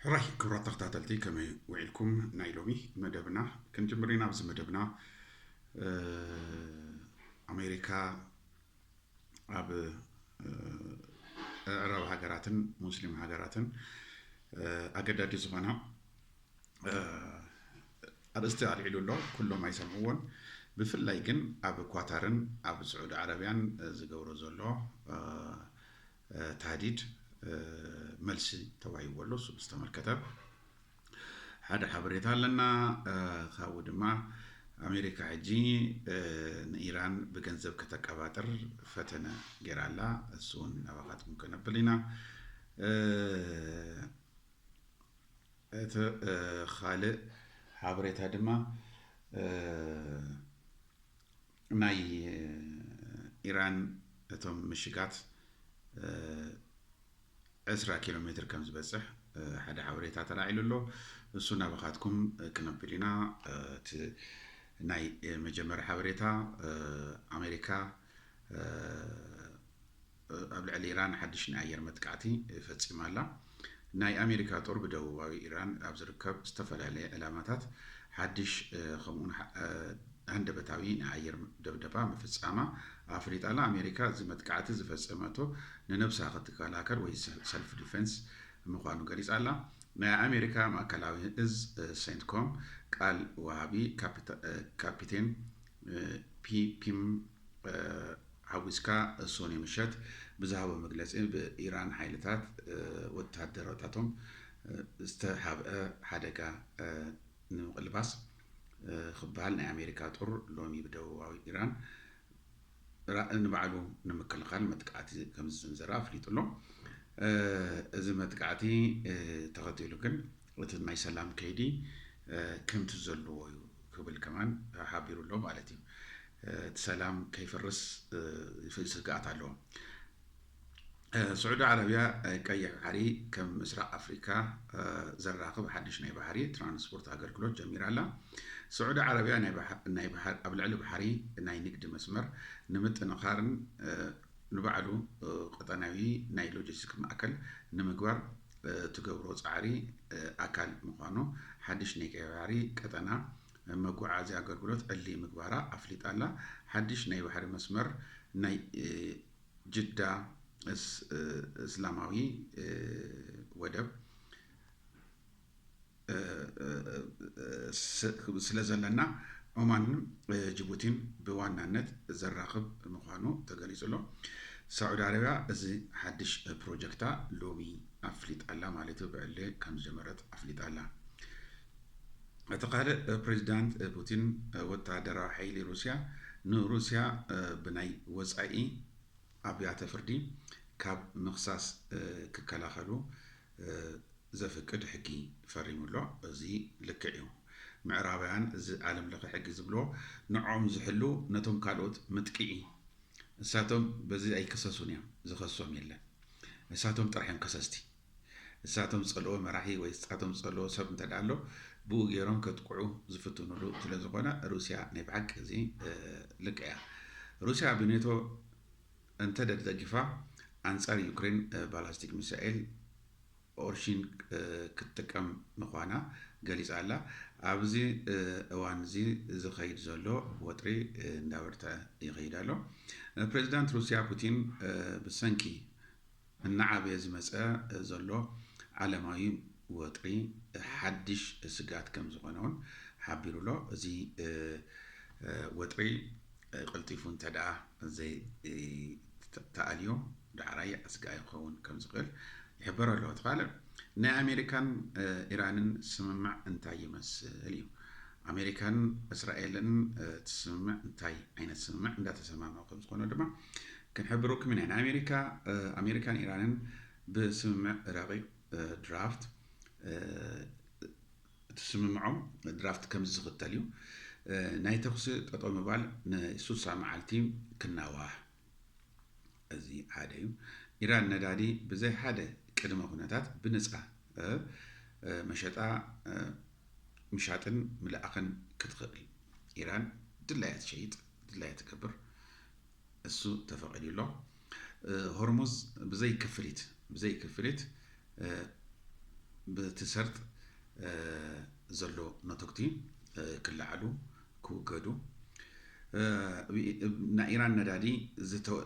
ሕራይ ክብራት ተኸታተልቲ ከመይ ውዒልኩም ናይ ሎሚ መደብና ክንጅምር ኢና ኣብዚ መደብና ኣሜሪካ ኣብ ዕረብ ሃገራትን ሙስሊም ሃገራትን ኣገዳዲ ዝኾና ኣርእስቲ ኣልዒሉ ኣሎ ኩሎም ኣይሰምዕዎን ብፍላይ ግን ኣብ ኳታርን ኣብ ስዑዲ ዓረብያን ዝገብሮ ዘሎ ታህዲድ መልሲ ተዋሂብዎ ኣሎ እሱ ብዝተመልከተ ሓደ ሓበሬታ ኣለና ካብኡ ድማ ኣሜሪካ ሕጂ ንኢራን ብገንዘብ ከተቀባጥር ፈተነ ጌራ ኣላ እሱ እውን ናባኻትኩም ከነብል ኢና እቲ ካልእ ሓበሬታ ድማ ናይ ኢራን እቶም ምሽጋት ዕስራ ኪሎ ሜትር ከም ዝበጽሕ ሓደ ሓበሬታ ተላዒሉ ኣሎ እሱ ናባኻትኩም ክነብል ኢና እቲ ናይ መጀመሪ ሓበሬታ ኣሜሪካ ኣብ ልዕሊ ኢራን ሓድሽ ናይ ኣየር መጥቃዕቲ ፈጺማ ኣላ። ናይ ኣሜሪካ ጦር ብደቡባዊ ኢራን ኣብ ዝርከብ ዝተፈላለየ ዕላማታት ሓድሽ ከምኡውን ሃንደበታዊ ናይ ኣየር ደብደባ ምፍጻማ ኣፍሊጣ ኣላ። ኣሜሪካ እዚ መጥቃዕቲ ዝፈጸመቶ ንነብሳ ክትከላከል ወይ ሰልፍ ዲፈንስ ምዃኑ ገሊጻ ኣላ። ናይ ኣሜሪካ ማእከላዊ እዝ ሴንትኮም ቃል ወሃቢ ካፒቴን ፒፒም ሓዊስካ ሶኑይ ምሸት ብዝሃቦ መግለጺ ብኢራን ሓይልታት ወተሃደራታቶም ዝተሓብአ ሓደጋ ንምቕልባስ ክበሃል ናይ ኣሜሪካ ጦር ሎሚ ብደቡባዊ ኢራን ንባዕሉ ንምክልኻል መጥቃዕቲ ከምዝሰንዘረ ኣፍሊጡ ኣሎ። እዚ መጥቃዕቲ ተኸቲሉ ግን እቲ ናይ ሰላም ከይዲ ከምቲ ዘለዎ ዩ ክብል ከማን ሓቢሩ ኣሎ ማለት ዩ። እቲ ሰላም ከይፈርስ ይፍእ ስግኣት ኣሎ። ስዑዲ ዓረብያ ቀይሕ ባሕሪ ከም ምስራቕ ኣፍሪካ ዘራኽብ ሓድሽ ናይ ባሕሪ ትራንስፖርት ኣገልግሎት ጀሚራ ኣላ። ስዑዲ ዓረብያ ኣብ ልዕሊ ባሕሪ ናይ ንግዲ መስመር ንምጥንኻርን ንባዕሉ ቀጠናዊ ናይ ሎጂስቲክ ማእከል ንምግባር እትገብሮ ፃዕሪ ኣካል ምዃኑ ሓድሽ ናይ ቀይ ባሕሪ ቀጠና መጓዓዝያ ኣገልግሎት ዕሊ ምግባራ ኣፍሊጣ ኣላ። ሓድሽ ናይ ባሕሪ መስመር ናይ ጅዳ እስላማዊ ወደብ፣ ስለዘለና ኦማንን ጅቡቲን ብዋናነት ዘራኽብ ምዃኑ ተገሊጹ ኣሎ። ሳዑዲ ዓረብያ እዚ ሓድሽ ፕሮጀክታ ሎሚ ኣፍሊጣላ ማለት እዩ፣ ብዕሊ ከም ዝጀመረት ኣፍሊጣላ። እቲ ካልእ ፕሬዚዳንት ፑቲን ወተሃደራዊ ሓይሊ ሩስያ ንሩስያ ብናይ ወጻኢ ኣብያተ ፍርዲ ካብ ምኽሳስ ክከላኸሉ ዘፍቅድ ሕጊ ፈሪሙ ኣሎ እዚ ልክዕ እዩ ምዕራባውያን እዚ ዓለም ለኸ ሕጊ ዝብልዎ ንዖም ዝሕሉ ነቶም ካልኦት ምጥቂዒ እሳቶም በዚ ኣይክሰሱን እዮም ዝኸሶም የለን እሳቶም ጥራሕ እዮም ከሰስቲ እሳቶም ዝጸልዎ መራሒ ወይ እሳቶም ዝጸልዎ ሰብ እንተ ኣሎ ብኡ ገይሮም ከጥቅዑ ዝፍትኑሉ ስለዝኾነ ሩስያ ናይ ብሓቂ እዚ ልክዕ እያ ሩስያ ብኔቶ እንተ ደግደጊፋ ኣንጻር ዩክሬን ባላስቲክ ሚሳኤል ኦርሺን ክትጥቀም ምዃና ገሊጻ ኣላ። ኣብዚ እዋን'ዚ ዝኸይድ ዘሎ ወጥሪ እንዳበርትዐ ይኸይድ ኣሎ። ፕሬዚዳንት ሩስያ ፑቲን ብሰንኪ እናዓበየ ዝመጸ ዘሎ ዓለማዊ ወጥሪ ሓድሽ ስግኣት ከም ዝኾነ እውን ሓቢሩ ኣሎ። እዚ ወጥሪ ቀልጢፉ እንተድኣ ዘይተኣልዮ ዳዕራይ ኣስጋኢ ክኸውን ከም ዝኽእል ይሕበር ኣሎ። እቲ ካልእ ናይ ኣሜሪካን ኢራንን ስምምዕ እንታይ ይመስል እዩ። ኣሜሪካን እስራኤልን እቲ ስምምዕ እንታይ ዓይነት ስምምዕ እንዳተሰማምዑ ከም ዝኾኑ ድማ ክንሕብረኩም ኢና ናይ ኣሜሪካ ኣሜሪካን ኢራንን ብስምምዕ ረቂቅ ድራፍት እቲ ስምምዖም ድራፍት ከምዚ ዝኽተል እዩ ናይ ተኩሲ ጠጠው ምባል ንሱሳ መዓልቲ ክናዋሕ እዚ ሓደ እዩ ኢራን ነዳዲ ብዘይ ሓደ ቅድመ ኩነታት ብነፃ መሸጣ ምሻጥን ምልኣኽን ክትኽእል ኢራን ድላያ ትሸይጥ ድላያ ትገብር እሱ ተፈቂዱ ኣሎ። ሆርሙዝ ብዘይ ክፍሊት ብዘይ ክፍሊት ብቲ ሰርጥ ዘሎ ነቶግቲ ክለዓሉ ክውገዱ ናይ ኢራን ነዳዲ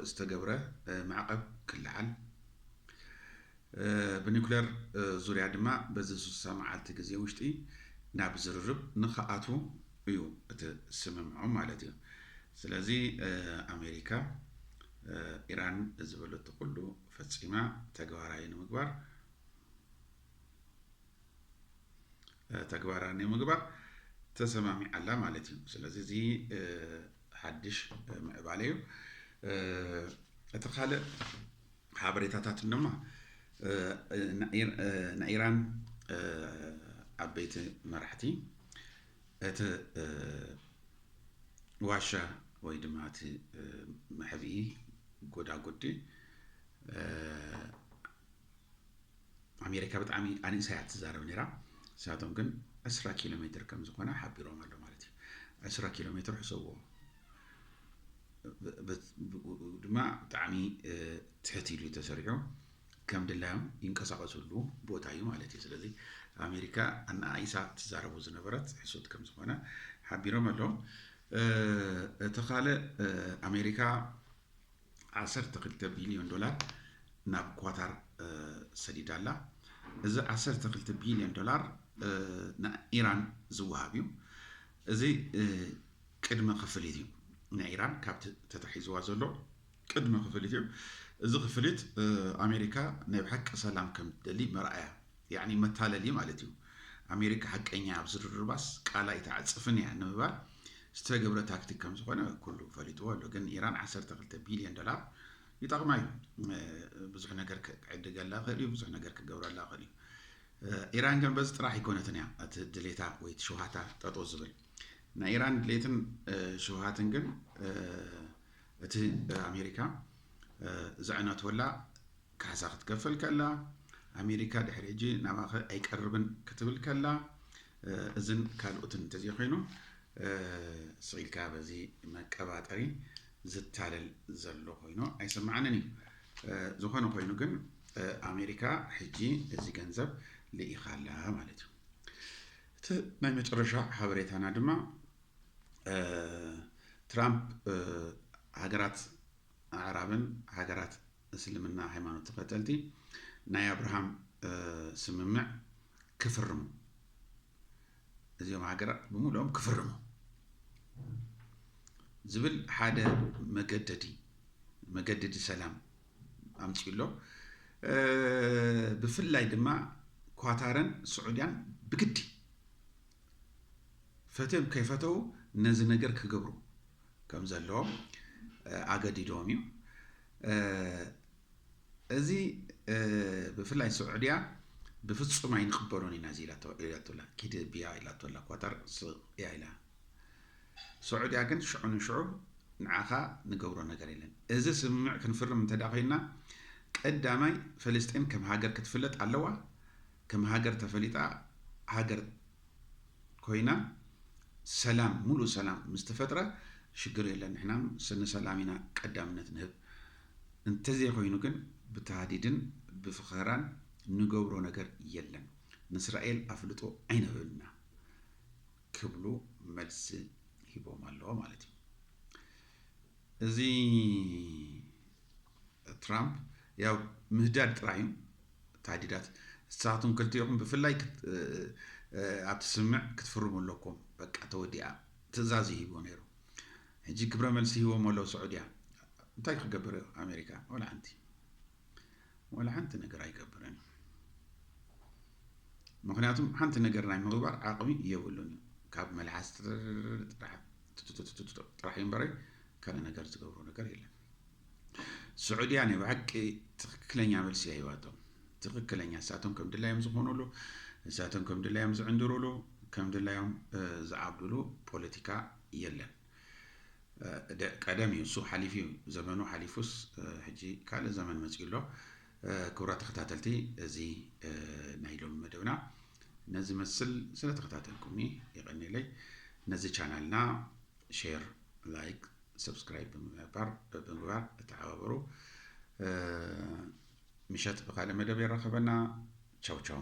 ዝተገብረ ማዕቐብ ክለዓል ብኒኩለር ዙርያ ድማ በዚ ስሳ መዓልቲ ግዜ ውሽጢ ናብ ዝርርብ ንክኣትዉ እዩ እቲ ስምምዖም ማለት እዩ። ስለዚ ኣሜሪካ ኢራን ዝበለቶ ኩሉ ፈፂማ ተግባራዊ ንምግባር ተግባራዊ ንምግባር ተሰማሚዓ ኣላ ማለት እዩ። ስለዚ እዚ ሓድሽ ምዕባለ እዩ። እቲ ካልእ ሓበሬታታት ድማ ንኢራን ዓበይቲ መራሕቲ እቲ ዋሻ ወይ ድማ እቲ መሕብኢ ጎዳጉዲ ኣሜሪካ ብጣዕሚ ኣንእሳያ ትዛረብ ነራ ንሳቶም ግን ዕስራ ኪሎ ሜትር ከም ዝኾነ ሓቢሮም ኣሎ ማለት እዩ ዕስራ ኪሎ ሜትር ሕሰብዎ ድማ ብጣዕሚ ትሕት ኢሉ ተሰሪዑ ከም ድላዮም ይንቀሳቀስሉ ቦታ እዩ ማለት እዩ። ስለዚ ኣሜሪካ ኣነኣኢሳ ትዛረቦ ዝነበረት ሕሶት ከም ዝኾነ ሓቢሮም ኣለዉ። እቲ ካልእ ኣሜሪካ ዓሰርተ ክልተ ቢልዮን ዶላር ናብ ኳታር ሰዲዳ ኣላ። እዚ ዓሰርተ ክልተ ቢልዮን ዶላር ንኢራን ዝወሃብ እዩ። እዚ ቅድመ ክፍሊት እዩ ንኢራን ካብቲ ተታሒዝዋ ዘሎ ቅድመ ክፍሊት እዩ እዚ ክፍሊት ኣሜሪካ ናይ ብሓቂ ሰላም ከም ትደሊ መርኣያ ያዕኒ መታለሊ ማለት እዩ ኣሜሪካ ሓቀኛ ኣብ ዝርርባስ ቃል ኣይትዓጽፍን እያ ንምባል ዝተገብረ ታክቲክ ከም ዝኾነ ኩሉ ፈሊጥዎ ኣሎ ግን ኢራን 12 ቢልዮን ዶላር ይጠቕማ እዩ ብዙሕ ነገር ክዕድገላ ክእል እዩ ብዙሕ ነገር ክገብረላ ክእል እዩ ኢራን ግን በዚ ጥራሕ ኣይኮነትን እያ እቲ ድሌታ ወይ እቲ ሸውሃታ ጠጦ ዝብል ናይ ኢራን ድሌትን ሸውሃትን ግን እቲ ኣሜሪካ ዘዕነቶላ ካሕሳ ክትከፈል ከላ፣ ኣሜሪካ ድሕሪ ሕጂ ናባኸ ኣይቀርብን ክትብል ከላ፣ እዝን ካልኦትን እንተዘይኮይኑ ስቕ ኢልካ በዚ መቀባጠሪ ዝታለል ዘሎ ኮይኑ ኣይስምዓንን እዩ። ዝኾነ ኮይኑ ግን ኣሜሪካ ሕጂ እዚ ገንዘብ ልኢኻ ኣላ ማለት እዩ። እቲ ናይ መጨረሻ ሓበሬታና ድማ ትራምፕ ሃገራት ኣዕራብን ሃገራት እስልምና ሃይማኖት ተኸተልቲ ናይ ኣብርሃም ስምምዕ ክፍርሙ እዚኦም ሃገራት ብምሉኦም ክፍርሙ ዝብል ሓደ መገደዲ መገደዲ ሰላም ኣምፅኡ ኣሎ ብፍላይ ድማ ኳታርን ስዑድያን ብግዲ ፈትዮም ከይፈተዉ ነዚ ነገር ክገብሩ ከም ዘለዎም ኣገዲድዎም እዩ። እዚ ብፍላይ ስዑድያ ብፍጹም ኣይንቕበሎን ኢና እዚ ኢላቶላ ኪድ ብያ ኢላቶላ ኳታር ስቕያ ኢላ ስዑድያ ግን ሽዑ ንሽዑ ንዓኻ ንገብሮ ነገር የለን እዚ ስምምዕ ክንፍርም እንተ ኮይና ቀዳማይ ፈለስጢን ከም ሃገር ክትፍለጥ ኣለዋ ከም ሃገር ተፈሊጣ ሃገር ኮይና ሰላም ሙሉእ ሰላም ምስ ተፈጥረ ሽግር የለን ንሕና ንሰላም ኢና ቀዳምነት ንህብ እንተዘይ ኮይኑ ግን ብታህዲድን ብፍኸራን ንገብሮ ነገር የለን ንስራኤል ኣፍልጦ ኣይንህብን ኢና ክብሉ መልሲ ሂቦም ኣለዉ ማለት እዩ እዚ ትራምፕ ያው ምህዳድ ጥራይ እዩ ታህዲዳት ንሳኻትኩም ክልቲኤኹም ብፍላይ ክት ኣብቲ ስምምዕ ክትፍርሙ ኣለኩም በቃ ተወዲኣ ትእዛዝ እዩ ሂብዎ ነይሩ ሕጂ ክብረ መልሲ ሂቦም ኣለዉ ስዑድያ እንታይ ክገብር እዩ ኣሜሪካ ወላ ሓንቲ ወላ ሓንቲ ነገር ኣይገብርን እዩ ምክንያቱም ሓንቲ ነገር ናይ ምግባር ዓቕሚ የብሉን እዩ ካብ መልሓስ ጥራሕ ጥራሕ እምበረይ ካልእ ነገር ዝገብሮ ነገር የለን ስዑድያ ናይ ብሓቂ ትክክለኛ መልሲ እያ ሂባቶም ትክክለኛ እሳቶም ከም ድላዮም ዝኾኑሉ እሳቶም ከም ድላዮም ዝዕንድሩሉ ከም ድላዮም ዝዓብዱሉ ፖለቲካ የለን ቀደም እዩ እሱ ሓሊፉ እዩ ዘመኑ ሓሊፉስ ሕጂ ካልእ ዘመን መፅኡ ኣሎ ክብራ ተኸታተልቲ እዚ ናይ ሎሚ መደብና ነዚ መስል ስለተኸታተልኩምኒ የቐኒለይ ነዚ ቻናልና ሼር ላይክ Subscribe ብምግባር ብምግባር ተሓባበሩ። ምሸት ብካልእ መደብ የራኸበና። ቻው ቻው።